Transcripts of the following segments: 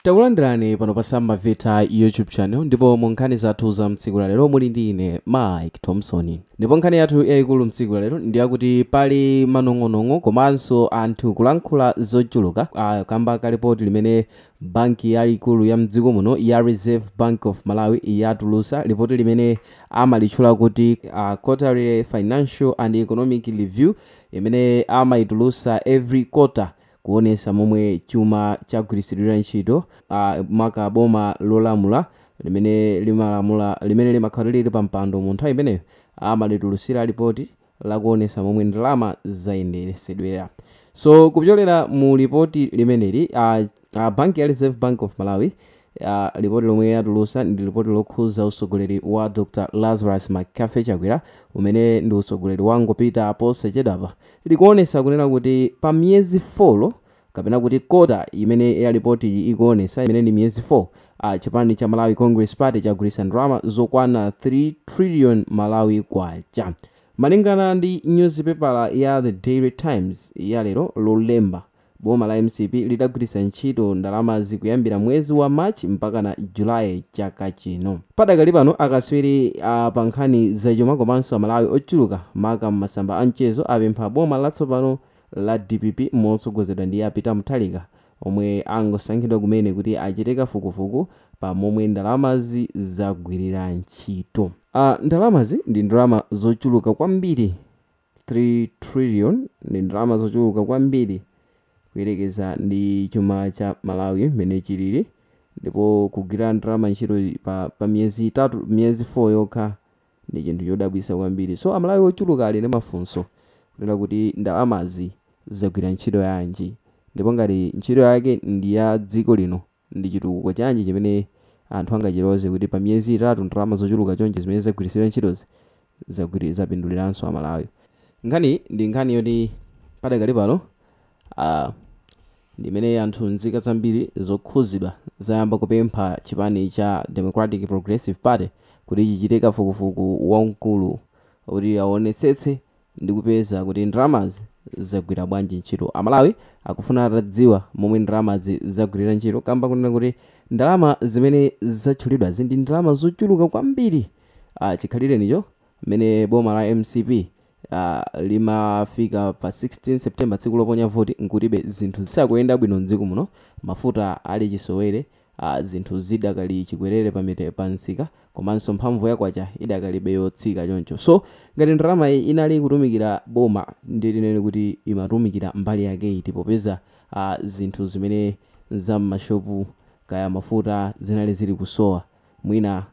Takulandirani pano pa Sam Mavita YouTube channel ndipo mu nkhani zathu za mtsiku la lero muli ndi ine Mike Thompson. Ndipo nkhani yathu yayikulu mtsiku la lero ndi yakuti pali manong'onong'o komanso anthu kulankhula zochuluka ah, kamba ka lipoti limene banki yayikulu ya mdziko muno ya Reserve Bank of Malawi yatulusa lipoti limene amalitchula kuti ah, Quarterly Financial and Economic Review imene amayitulusa every quarter kuonesa momwe chuma chagwiritsidwira ntchito maka boma lolamula limene limalamula limene limakhala lili pampando mu nthawi imeneyo amalitulutsira lipoti lakuonesa momwe ndalama zayenderesedwera so kupyolera mu lipoti limeneli a a banki ya reserve bank of malawi a Lipoti lomwe yatulusa ndi lipoti lokhuza utsogoleri wa Dr Lazarus McCarthy Chakwera umene ndi utsogoleri wangopita posachedwapa likuonesa kunena kuti pa miyezi 4 kapena kuti kota imene ya lipotiyi ikuonesa imene ndi miyezi 4 a chipani cha Malawi Congress Party chagwiritsa ndalama zokwana 3 trillion Malawi kwacha. Malingana ndi nyuzipepala ya The Daily Times ya lero lolemba Boma la mcp lidagwiritsa ntchito ndalamazi kuyambira mwezi wa March mpakana July chaka chino. Padakali pano, akatswiri a pa nkhani zachuma komanso Amalawi ochuluka maka m'masamba a mchezo apempha boma latsopano la dpp motsogozedwa ndi a Peter Mutharika omwe angosankhidwa kumene kuti achite kafukufuku pa momwe ndalamazi zagwirira ntchito. A, Ndalamazi ndi ndalama zochuluka kwambiri. 3 trillion ndi ndalama zochuluka kwambiri kuyerekeza ndi chuma cha Malawi mmene chilili ndipo kugwira ndalama ntchito pa pa miyezi itatu miyezi 4 yokha ndi chinthu chodabwitsa kwambiri so amalawi ochuluka ali ndi mafunso kunena kuti ndalamazi zagwira ntchito yanji ndipo ngati ntchito yake ndi ya dziko lino Ndi chitukuko chanji chimene anthu angachiloze kuti pa miyezi itatu ndalama zochuluka chonchi zimene zagwiritsidwa ntchitozi zagwiri zapinduliranso a Malawi? Nkhaniyi ndi nkhani yoti padakali pano a ndi imene anthu nzika zambiri zokhuzidwa zayamba kupempha chipani cha Democratic Progressive Party kuti chichite kafukufuku wamkulu kuti awonetsetse ndikupeza kuti ndalamazi zagwira bwanji ntchito. Amalawi akufuna atadziwa momwe ndalamazi zagwirira ntchito kamba kunena kuti ndalama zimene zatchulidwazi ndi ndalama zochuluka kwambiri ah, chikhalirecho mmene boma la mcp ah, limafika pa 16 september tsiku loponya voti nkutibe zinthu zisakuyenda bwino mdziko muno mafuta ali chisowere a zinthu zidakali chikwerere pa mi pa msika komanso mphamvu ya kwacha idakalibe yotsika choncho so ngati ndalama inali kutumikira boma ndiye tinene kuti imatumikira mbali yake iti popeza a zinthu zimene za m'mashopu kaya mafuta zinali zili kusowa mwina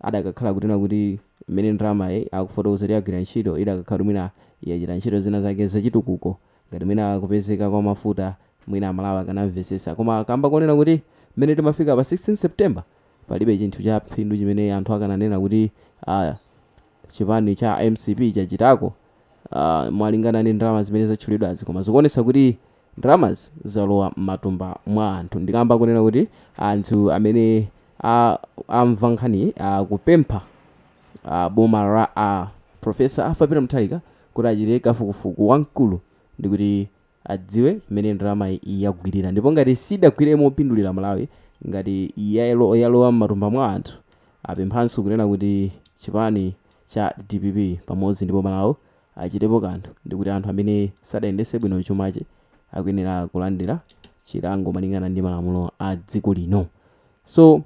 adakakhala kunena kuti mmene ndalama akufotokoza kuti yagwira ntchito idakakhala kuti mwina yachita ntchito zina zake zachitukuko Ngati mwina kupezeka kwa mafuta mwina amalawi akanamvesesa koma kamba konena kuti mmene timafika pa 16 September palibe chinthu cha phindu chimene anthu akananena kuti aah chipani cha mcp chachitako aah mwalingana ndi ndalama zimene zatchulidwazi koma zikuonesa kuti ndalamazi zalowa mmatumba mwa anthu ndi kamba konena kuti anthu amene amva nkhaniyi akupempha a boma la a Professor Arthur Peter Mutharika kuti achite kafukufuku wamkulu ndi kuti adziwe mmene ndalamayi yagwirira ndipo ngati sidagwire mopindulira Amalawi ngati yalo yalowa m'matumba mwa anthu. Apemphanso kunena kuti chipani cha dpp pamodzi ndi boma lawo achitepo kanthu ndi kuti anthu amene sadayendese bwino chumachi akuyenera kulandira chilango malingana ndi malamulo a dziko lino. So.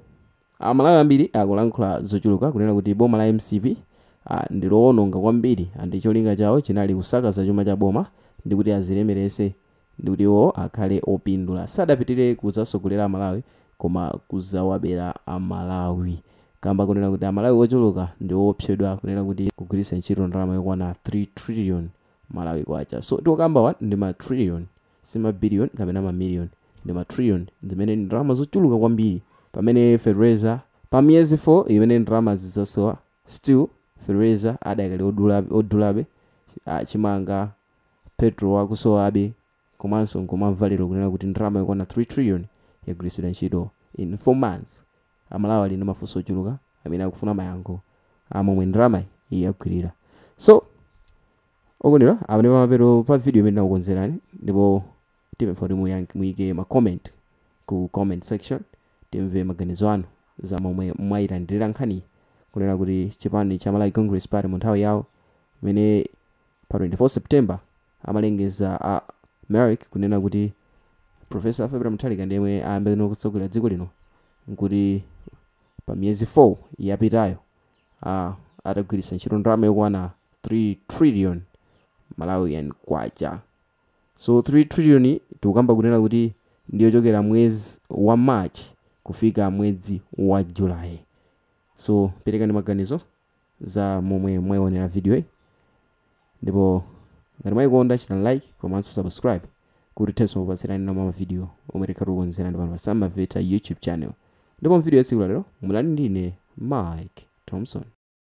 Amalawi ambiri akulankhula zochuluka kunena kuti boma la mcp ndilowononga kwambiri ndi cholinga chawo chinali kusakaza chuma cha boma ndikuti azilemerese ndikuti iwo akhale opindula. Sadapitire kuzasogolera amalawi koma kuzawabera amalawi kamba konena kuti amalawi ochuluka ndiwopsyedwa kunena kuti kugwiritsa ntchito ndalama yokwana 3 trillion malawi kwacha so tikukambawa ndi ma trillion Si ma billion kapena ma million, ndi ma trillion zimene ndi ndalama zochuluka kwambiri. Pamene fertilizer, pa miyezi 4 imene ndalamazi zasowa, still fertilizer adakali odulabe, odulabe, ah, chimanga, petrol akusowabe, komanso nkumamva lero kunena kuti ndalama yokwana 3 trillion yagwiritsidwa ntchito in 4 months. Amalawi ali ndi mafunso ochuluka amene akufuna mayankho a momwe ndalamayi yagwirira. So. okondedwa apa ndi pamapeto pa video imene tinakukonzerani ndipo tipempha kuti muyank- muyike ma comment ku comment section timve maganizo anu za momwe mwayilandirira nkhaniyi kunena kuti chipani cha malawi congress party mu nthawi yawo imene pa 24 september amalengeza a mec kunena kuti professor peter mutharika ndi yemwe ayambenso kutsogolera dziko lino nkuti pa miyezi 4 yapitayo a atagwiritsa ntchito ndalama yokwana 3 trillion Malawian kwacha. So 3 trillion yi tikukamba kunena kuti ndi yochokera mwezi wa March kufika mwedzi wa July. So perekani maganizo za momwe mwaionera video yi. Ndipo ngati mwaikonda chitani like komanso subscribe kuti tithenso kukupatsirani ena mwa mavidiyo omwe tikhala tikukonzerani pano pa Sam Maveta YouTube channel. Ndipo m'vidiyo ya tsiku la lero munali ndi ine Mike Thompson.